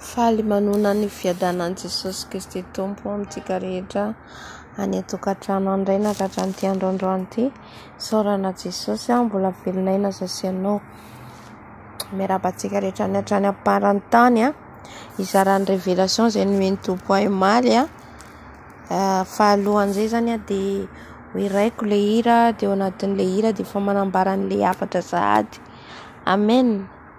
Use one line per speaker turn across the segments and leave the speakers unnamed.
Faly manonona ny fiadanan'i Jesosy Kristy Tompo amintsika rehetra any an-tokantrano any Ray na ka hatramin'ity andro androany ity. Isaorana Jesosy aho mbola velonay na izao sy ianao. Miarahaba antsika rehetra any hatrany am-paran'ny tany. Hizara ny révélation izay nomen'ny Tompo ahy omaly. Fahalohan'izay izany dia ho hiraiko ilay hira dia ao anatin'ilay hira dia efa manambara an'ilay hafatra sahady. Amen.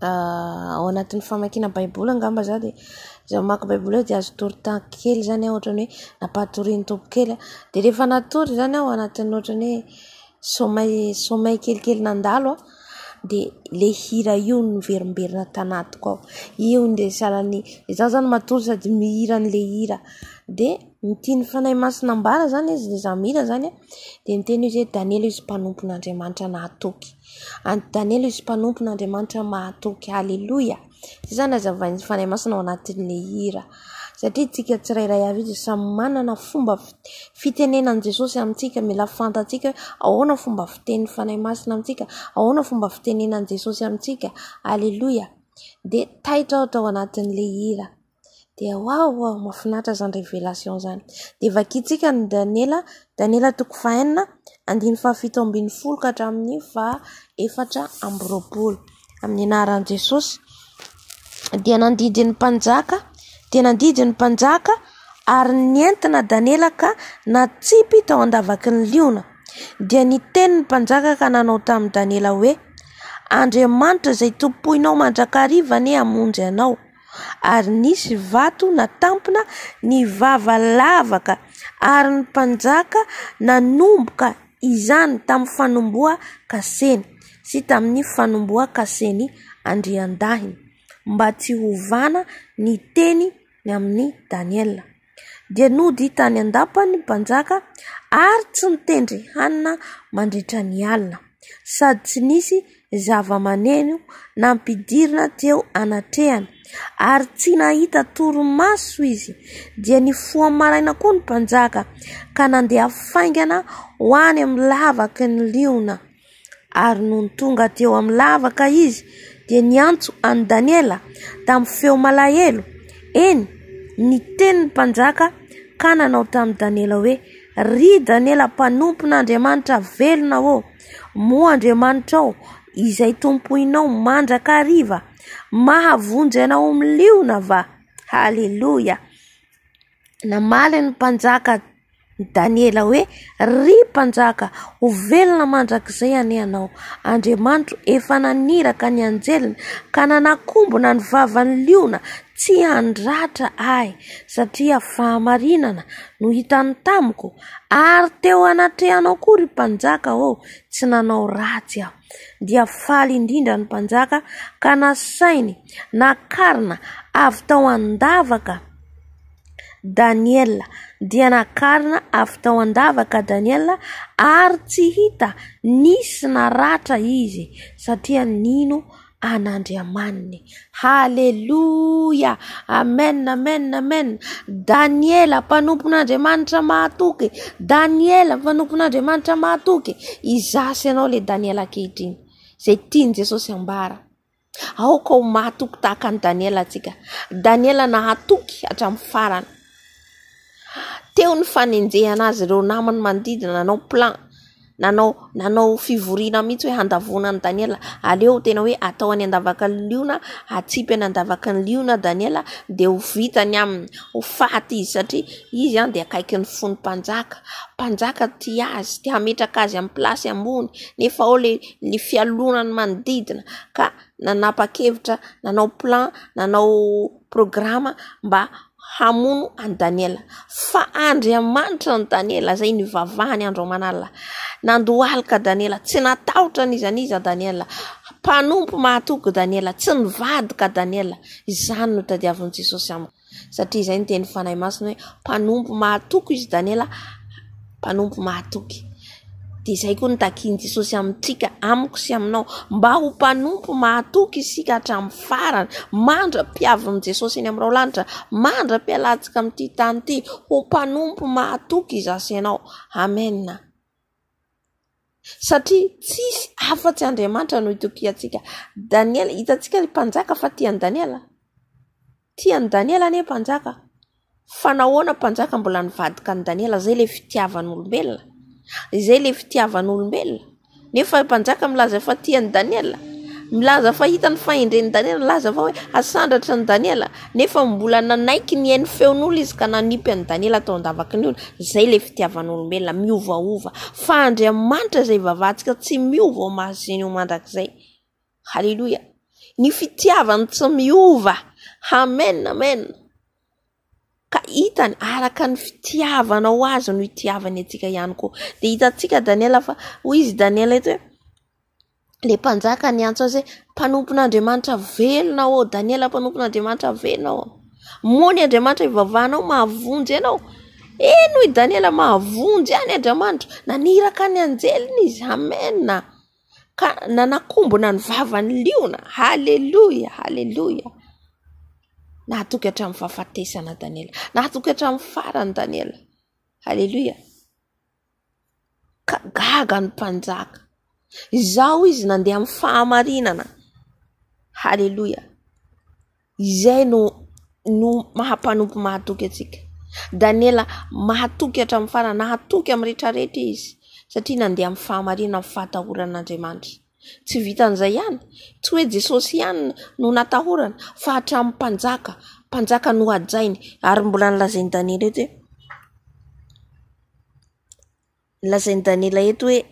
ao anatin'ny famakiana baiboly angamba za dia izaho mamaky baiboly eo dia azo atoro temps kely zany aho ohatra hoe ampatorian'ny Tompo kely aho dia rehefa natory zany aho anatin'ny ohatra ny hoe sommeil sommeil kelikely nandalo aho dia ilay hira io no miverimberina tanatiko ao io indray salan'ny izaho zany matory sady mihira an'ilay hira dia ny tian'ny Fanahy Masina ambara zany izy dia izaho mihira zany dia miteny izy hoe Daniela izy mpanompon'Andriamanitra nahatoky An'i Daniela izy mpanompo n'Andriamanitra mahatoky. Aleloia! Izay izany azavain'ny Fanahy Masina ao anatin'ilay hira. Satria isika tsirairay avy izy samy manana fomba fitenenan'i Jesosy amintsika. Mila fantatsika hoe ahoana fomba fitenin'ny Fanahy Masina amintsika, ahoana fomba fitenenan'i Jesosy amintsika. Aleloia! Dia taitra ohatra ao anatin'ilay hira. Dia waouh waouh mafinaritra izany révélation izany. Dia vakintsika ny Daniela, Daniela toko faha enina, andininy faha fito ambin'ny folo ka hatramin'ny faha efatra amby roapolo. Amin'ny anaran'i Jesosy. Dia nandidy ny mpanjaka, dia nandidy ny mpanjaka ary nentina Daniela ka natsipy tao an-davaky ny liona. Dia niteny ny mpanjaka ka nanao tamin'i Daniela hoe Andriamanitra izay tompoinao mandrakariva anie hamonjy anao. ary nisy vato natampina ny vava lavaka ary ny mpanjaka nanomboka izany tamin'ny fanombohan-kaseny sy tamin'ny fanombohan-kasen'i Andriandahiny mba tsy hovana ny teny ny amin'i Daniela. dia nody tany an-dapa ny mpanjaka ary tsy nitendry hanina mandritra ny alina sady tsy nisy zava-maneno nampidirina teo anatrehany ary tsy nahita torimaso izy dia nifoha maraina koa ny mpanjaka ka nandeha faingana ho any amin'ny lavaky ny liona. Ary nony tonga teo amin'ny lavaka izy dia niantso an'i Daniela tamin'ny feo malahelo, eny, ny tenin'ny mpanjaka, ka nanao tamin'i Daniela hoe, Ry Daniela mpanompon'Andriamanitra velona ô, moa Andriamanitrao izay tompoinao mandrakariva mahavonjy anao amin'ny liona va? Haleloia! Namaly ny mpanjaka Daniela hoe, Ry mpanjaka, ho velona mandrakizay anie ianao. Andriamanitro efa naniraka ny anjeliny ka nanakombona ny vavan'ny liona tsy handratra ahy, satria fahamarinana no hitany tamiko, ary teo anatrehanao koa ry mpanjaka ô, tsy nanao ratsy aho. Dia faly indrindra ny mpanjaka ka nasainy nakarina avy tao an-davaka. Daniela. Dia nakarina avy tao an-davaka Daniela ary tsy hita nisy naratra izy satria nino an'Andriamaniny. Haleloia! Amen! Amen! Amen! Daniela mpanompon'Andriamanitra mahatoky. Daniela mpanompon'Andriamanitra mahatoky. Izaho sy ianao ilay Daniela ankehitriny izay tian'i Jesosy ambara. Aoka ho mahatoky tahaka an'i Daniela isika. Daniela nahatoky hatramin'ny farany. Teo ny fanenjehana azy ireo namany manodidina nanao plan, nanao nanao fivoriana mihitsy hoe handavoana an'i Daniela. Aleo tena hoe atao any an-davaky ny liona, atsipy any an-davaky ny liona Daniela dia ho vita ny aminy, ho faty izy satria izy dia akaiky ny fon'ny mpanjaka. Mpanjaka tia azy, te hametraka azy amin'ny place ambony nefa ao ilay ny fialonan'ny manodidina ka nanapa-kevitra nanao plan, nanao programa mba hamono an'i Daniela. Fa Andriamanitra an'i Daniela izay nivavahany andro aman'alina. Nandohalika Daniela, tsy natahotra n'iza n'iza Daniela. Mpanompo mahatoky Daniela, tsy nivadika Daniela. Izany no tadiavin'i Jesosy amiko. Satria izay no tenin'ny Fanahy Masina hoe mpanompo mahatoky izy Daniela, mpanompo mahatoky. Dia izay koa no takian'i Jesosy amintsika, amiko sy aminao. Mba ho mpanompo mahatoky isika hatramin'ny farany, mandra-piavin'i Jesosy eny amin'ny raolanitra, mandra-pialantsika amin'ity tany ity, ho mpanompo mahatoky izaho sy ianao. Amena. Satria tsisy afatsy Andriamanitra no itokiantsika. Daniela, hitantsika ny mpanjaka fa tia an'i Daniela. Tia an'i Daniela anie mpanjaka. Fa nahoana mpanjaka mbola nivadika an'i Daniela? Izay ilay fitiavan'olombelona. Izay ilay fitiavan'olombelona. Nefa mpanjaka milaza fa tia an'i Daniela. Milaza fa hitany fahendren'i Daniela. Milaza fa hoe asandratra an'i Daniela. Nefa mbola nanaiky ny hain'ny feon'olona izy ka nanipy an'i Daniela tao an-davaky ny ony. Izay ilay fitiavan'olombelona, miovaova. Fa Andriamanitra izay ivavahantsika tsy miova ho masin' ho mandrakizay. Haleloia. Ny fitiavany tsy miova. Amen, amen. Ka hitany, araka ny fitiavanao azy no hitiavany antsika ihany koa. Dia hitantsika Daniela fa, hoy izy Daniela eto hoe, ilay mpanjaka niantso azy hoe mpanompon'Andriamanitra velona ô Daniela mpanompon'Andriamanitra velona ô moany Andriamanitra ivavahanao mahavonjy ianao eny hoy Daniela mahavonjy any Andriamanitra naniraka ny anjeliny izy amena ka nanakombona ny vavan'ny liona haleloia haleloia nahatoky hatramin'ny fahafatesana Daniela nahatoky hatramin'ny farany Daniela haleloia ka gaga ny mpanjaka izao izy nandeha amin'ny fahamarinana haleloia izay no no maha mpanompo mahatoky antsika Daniela mahatoky hatramin'ny farany nahatoky amin'ny rehetra rehetra izy satria nandeha amin'ny fahamarinana amin'ny fahatahoran'Andriamanitra tsy vitan'izay ihany tsy hoe Jesosy ihany no natahorana fa hatramin'ny mpanjaka mpanjaka no hajainy ary mbola nilazain'i Daniela eto hoe Lazain'i Daniela eto hoe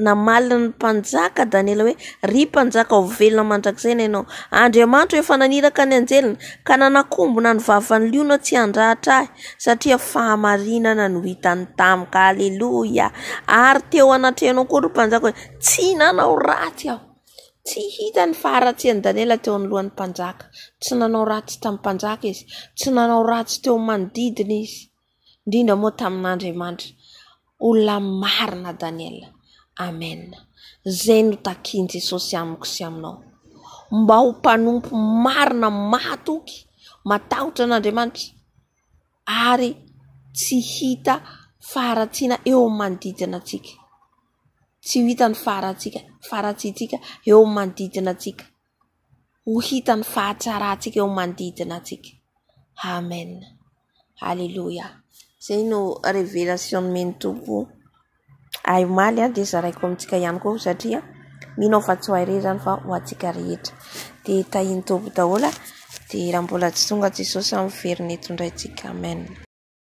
namaly ny mpanjaka Daniela hoe ry mpanjaka ho velona mandrakizay ny anao. Andriamanitro efa naniraka ny anjeliny ka nanakombona ny vavan'ny liona tsy handratra ahy satria fahamarinana no hitany tamiko. Aleloia. Ary teo anatrehanao koa ry mpanjaka hoe tsy nanao ratsy aho. Tsy hita ny faharatsian'i Daniela teo anoloan'ny mpanjaka. Tsy nanao ratsy tamin'ny mpanjaka izy. Tsy nanao ratsy teo amin'ny manodidina izy. indrindra moa tamin'Andriamanitra olona marina Daniel Amen izay no takian'i Jesosy amiko sy aminao mba ho mpanompo marina mahatoky matahotra an'Andriamanitra ary tsy hita faharatsiana eo amin'ny manodidina antsika tsy ho hita ny faharatsiana faharatsiantsika eo amin'ny manodidina antsika ho hita ny fahatsarantsika eo manodidina antsika. Amen. Aleloia. Izay no révélation nomen'ny Tompo ahy omaly dia zaraiko amintsika ihany koa satria mino aho fa tsy ho ahy irery izany fa ho antsika rehetra. Dia tahin'ny Tompo daholo dia raha mbola tsy tonga Jesosy amin'ny veriny eto indray tsika. Amen.